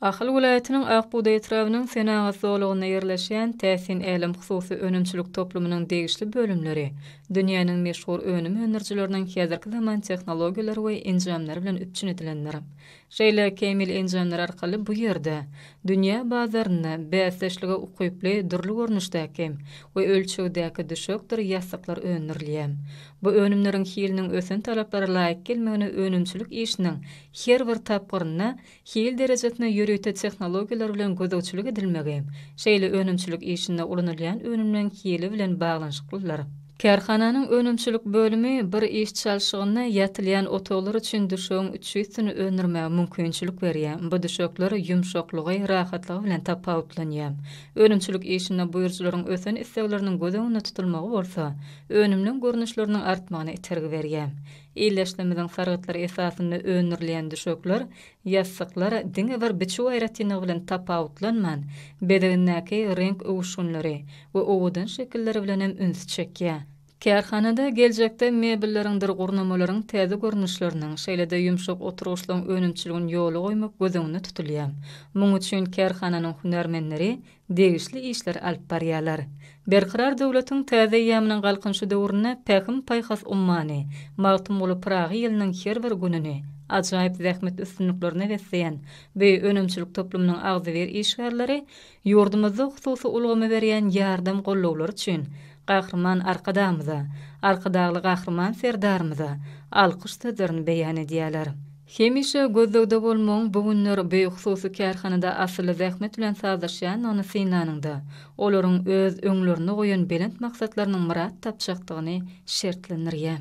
Ahal welaýatynyň Akbugdaý etrabynyň Senagat zolagynda ýerleşýän Täsin älem hususy önümçilik toplumynyň degişli bölümleri dünýäniň meşhur önüm öndürijileriniň häzirki zaman tehnologiýalary we enjamlary bilen üpjün edilendir. Şeýle kämil enjamlar arkaly bu ýerde dünýä bazarynda bäsdeşlige ukyply dürli görnüşdäki we ölçegdäki düşekdir ýassyklar öndürilýär. Bu önümleriň hiliniň ösen talaplara laýyk gelmegine önümçilik işiniň her bir tapgyrynda hil derejesine ýörite tehnologiýalar bilen gözegçilik edilmegi, şeýle önümçilik işinde ulanylýan önümleň hili bilen baglanyşyklydyr. Kärhananyň önümçilik bölümi bir iş çalşygynda ýatylýan otaglar üçin düşegiň üçüsini öndürmäge mümkinçilik berýär, bu düşekler ýumşaklygy, rahatlygy bilen tapawutlanýar. Önümçilik işinde buýrujylaryň ösen islegleriniň göz öňünde tutulmagy bolsa, önümleň görnüşleriniň artmagyna itergi berýär. Ildeşlerimiziň sargytlary esasynda öndürilýän düşekler, ýassyklar diňe bir biçüw aýratynlygy bilen tapawutlanman, bezegindäki reňk öwüşginleri we owadan şekilleri bilen hem üns çekýär. Kärhanada geljekde mebelleriňdir gurnamalaryň täze görnüşleriniň, şeýle-de ýumşak oturgyçlaryň önümçiligini ýola goýmak göz öňünde tutulýar. Munuň üçin kärhananyň hünärmenleri degişli işleri alyp barýarlar. Berkarar döwletiň täze eýýamynyň Galkynyşy döwründe Pähim-paýhas ummany Magtymguly Pyragy ýylynyň her bir gününi ajaýyp zähmet üstünliklerine besleýän bu önümçilik toplumynyň agzybir işgärleri ýurdumyzda hususy ulgama berýän ýardam-gollawlary üçin Gahryman Arkadagymyza, Arkadagly Gahryman Serdarymyza alkyş sözlerini beýan edýärler. Hemişe gözlegde bolmagyň bu günler beýik hususy kärhanada asylly zähmet bilen sazlaşýandygyny synlanyňda, olaryň öz öňlerinde goýan belent maksatlarynyň myrat tapjakdygyny şertlendirýär.